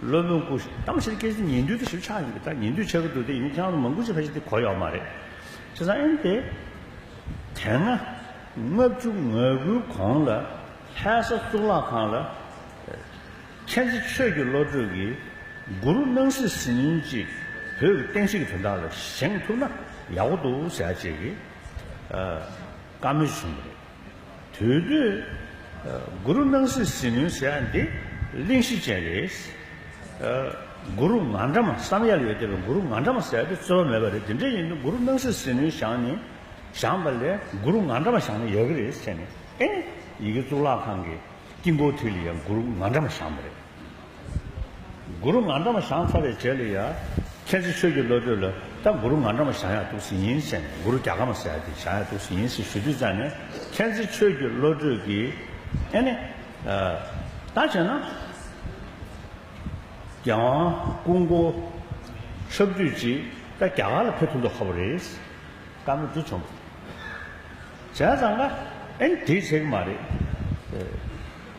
སློབ་དཔོན་ཀུ་ཤུ་ཏམ་ཤཱི་རི་ཀས་ཅི་ཉན་ཐོས་དེ་ཞིབ་ཆགས་ཡིན་པས་ད་ཉན་ཐོས་ཆགས་ཀྱི་འདུག་དེ་ཡིན་ན་ཁྱེད་རང་ལ་མང་པོ་ཅི་ལྷ་ཞིག་དེ་གོ་ཡོད་མ་རེད། ཁྱེད་རང་ཨེ་འདི། དེ་སྔ། ལྔ་བཅུ་ང་དགུའི་གོང་ལ། ལྷའི་ས་གཙུག་ལག་ཁང་ལ། མཁྱེན་བརྩེ་ཆོས་ཀྱི་བློ་གྲོས་ཀྱིས། གུ་རུ་སྣང་སྲིད་ཟིལ་གནོན་གཅིག། བོད་ཀྱི་བསྟན་བཤིག་གི་དོན་དག་ལ་བཞེངས་ཐུབ་ན་ཡག་པོ་འདུག་ཟེར་ཡ་བྱེད་ཀྱི། བཀའ་མོལ་བྱུང་བ་རེད། དུས་བསྟུད། གུ་རུ་སྣང་སྲིད་ཟིལ་གནོན་ཟེར་ཡ་འདི་གླེང་གཞི་ཅན་རེད། གུ་རུ་ང་འདྲ་མ་བསམ་ཡར་ཡོད་བསྡད་པའི་གུ་རུ་ང་འདྲ་མ་ཟེར་ཡ་འདི་རྩོལ་བ་མེད་པ་རེད་དེ་འདྲ་ཡིན་དུས་གུ་རུ་སྣང་སྲིད་ཟིལ་གནོན་བཞག་ནི་བཞག་པ་ལས་གུ་རུ་ང་འདྲ་མ་བཞག་ན་ཡག་གི་རེད་བྱས་ནས་ཨེ། ཡི་གེ་གཙུག་ལག་ཁང་གི་དཀྱིལ་འཁོར་དུས་ལ་ཡང་གུ་རུ་ང་འདྲ་མ་བཞག་མ་རེད། གུ་རུ་ང་འདྲ་མོ་ཞང་ཚ་བའི་རྗེས་ལ་ཡ། མཁན་ཆེན་ཆོས་ཀྱི་བློ་གྲོས་ལ་ད་གུ་རུ་ང་འདྲ་མོ་ཞང་ཡག་ཐུགས་སི་ཡིན་ཟེར་ནས་གུ་རུ་རྒྱ་གར་མ་ཟེར་ཡ་དེ་ཞང་ཡག་ཐུགས་སི་ཡིན་ཟེར་ཞུ་དུས་ཙང་ནས་མཁན་ཆེན་ཆོས་ཀྱི་བློ་གྲོས་ཀྱིས་ཨེ་ནི། ད་བྱས་ན། རྒྱལ་དབང་སྐུ་མགོ། ཆབ་བདུད་ཀྱིས་ད་རྒྱ་གར་ལ་ཕེབས་ཐུབ་མདོག་ཁ་བོ་རེད། བཀའ་མོལ་འདི་བྱུང། བྱས་ཙང་ང་ཨེ་ནི་དེ་བྱེད་ཀྱི་མ་རེད།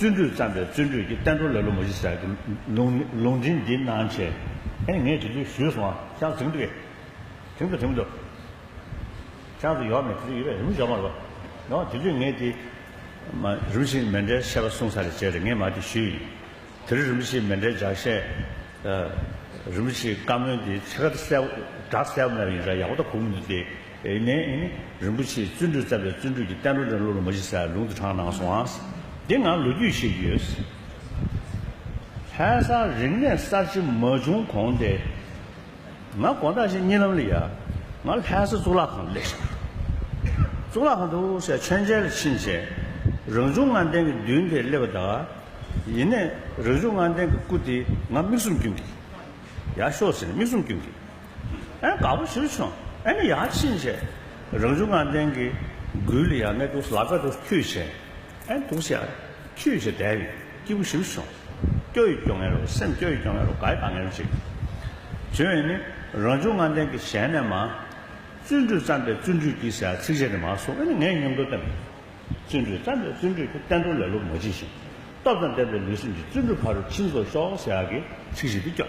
བརྩོན་འགྲུས་བརྩམས་པའི་བརྩོན་འགྲུས་ཀྱིས་བསྟན་འགྲོ་ལ་ལོ་མ་བཞི་ཟག་ལུང་འདྲེན་འདི་གནང་བྱས། ཨེ་ངས་དེ་དུས་ཞུས་སོང་ཨ་ཅག་དྲིན་དུ་དྲིན་དུ་དྲིན་དུ། ཅག་དུ་ཡོག་མེད་དེ་དུས་ཡོད་པས་རིམ་བཞིན་ཡོག་མ་རེད། ཡོག་དེ་དུས་ངས་དེ། རིམ་བཞིན་མེ་འབྲས་བཤད་པ་གསུངས་ས་རེད་བྱས་རེད་ངས་མ་དེ་ཞུས་ཡིན། དེ་རིང་རིམ་བཞིན་མེ་འབྲས་ལྗགས་བཤད། རིམ་བཞིན་བཀའ་མོལ་འདི་ཕྱི་དགྲ་གསལ་བོ་མེད་པ་ཡིན་ས་ཡག་པོ་ད་གོ་མི་འདུག་སྟེ། ཨེ་ནས་ཨིན། རིན་པོ་ཆེའི་བརྩོན་འགྲུས་རྩ་བའི་བརྩོན་འགྲུས་ཀྱི་གཏན་སྒྲོག་དེ་བློ་རུ་མ་ཞི་སར་ལུང་དུ་དྲངས་གནང་སོང་ཨང། འདི་ང་ལོ་རྒྱུས་ཤེས་ཀྱི་ཡོད། ལྷན་སར་རིག་གནས་གསར་བརྗེ་མ་བྱུང་གོང་དེ། ང་དགོང་དྲག་ཞིག་གཉིད་ལམ་ལ་ཡ། ང་ལྷན་ས་གཙུག་ལག་ཁང་དུ་སླེབས་ཤིང། གཙུག་ལག་ཁང་དུ་ཧུར་བཤགས་མཆོད་མཇལ་ལ་ཕྱིན་རྗེས། རང་བྱུང་ངང་སྟེང་གི་མདུན་དེར་སླེབས་པ་དང། ཡེ་ནས་རང་བྱུང་ངང་སྟེང་གི་སྐུ་དེ་ང་མིག་ཟུང་བསྐྱུན་གྱིས། ཡར་ཤོག་ཟེར་ནས་མིག་ཟུང་བསྐྱུན་གྱིས། ཨེ་དགའ་པོ་ཞུ་བྱུང་ཨེ་ནི་ཡག་ཕྱིན་ཆད་རང་བྱུང་ངང་ལྡན་གི་མགུལ་ཡང་ནས་དུག་ལ་ཀ་དུག་ཁྱུད་བྱེད་ཨེ་དུག་བྱེད་ཨེ་ཁྱུད་བྱེད་དད་ཡི་སྐྱིད་པོ་ཞུ་བྱུང་སྐྱོ་ཡི་སྐྱོ་ངན་རོ་སེམས་སྐྱོ་ཡི་སྐྱོ་ངན་རོ་དགའ་ཡི་དགའ་ངན་རོ་ཅིག་བྱོས་ཨེ་ནི་རང་བྱུང་ངང་ལྡན་གི་ཞལ་ནས་མ་བརྩོན་འགྲུས་བརྩམས་པའི་བརྩོན་འགྲུས་ཀྱིས་ཟེར་ཚིག་གཞན་ནི་མ་གསུངས་ཨེ་ནི་ངས་ཉམས་རྟོགས་བརྟན་པའི་བརྩོན་འགྲུས་བརྩམས་པའི་བརྩོན་འགྲུས་ཀྱིས་བསྟན་དོན་ལེ་ལོ་མ་བགྱིས་ཤིང་སྟོབས་དང་ལྡན་པའི་ལུས་སེམས་ཀྱི་བརྩོན་འགྲུས་ཕ་རོལ་ཕྱིན་བཟོ་ཤོག་ཟེར་ཡག་གི་ཚིག་བཞིན་དུ་སྐྱོ།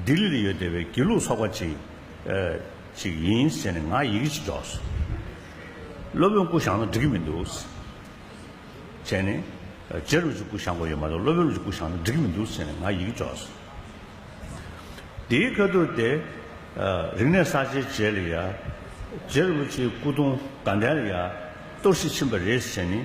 ལྡི་ལི་ལ་ཡོད་སྡེ་བའི་དགེ་ལུགས་ཚོགས་པ་ཅིག་ཅིག་ཡིན་ཟེར་ནས་ང་ཡི་གེ་ཅིག་འཇོག་སོང། སློབ་དཔོན་སྐུ་བཞག་ན་འགྲིག་གི་མི་འདུག། བྱས་ནས། རྗེ་རུ་ཅིག་སྐུ་བཞག་དགོས་ཡོད་མ་གཏོགས་སློབ་དཔོན་རུ་ཅིག་སྐུ་བཞག་ན་འགྲིག་གི་མི་འདུག་ཟེར་ནས་ང་ཡི་གེ་འཇོག་སོང། དེའི་ཁ་ཐུག་སྟེ། རིག་གནས་གསར་བརྗེའི་རྗེས་ལ་ཡ། རྗེ་རུ་ཅིག་སྐུ་གདུང་དགའ་ལྡན་ལ་ཡ། གཏོར་བཤིག་ཕྱིན་པ་རེད་ཟེར་ནས།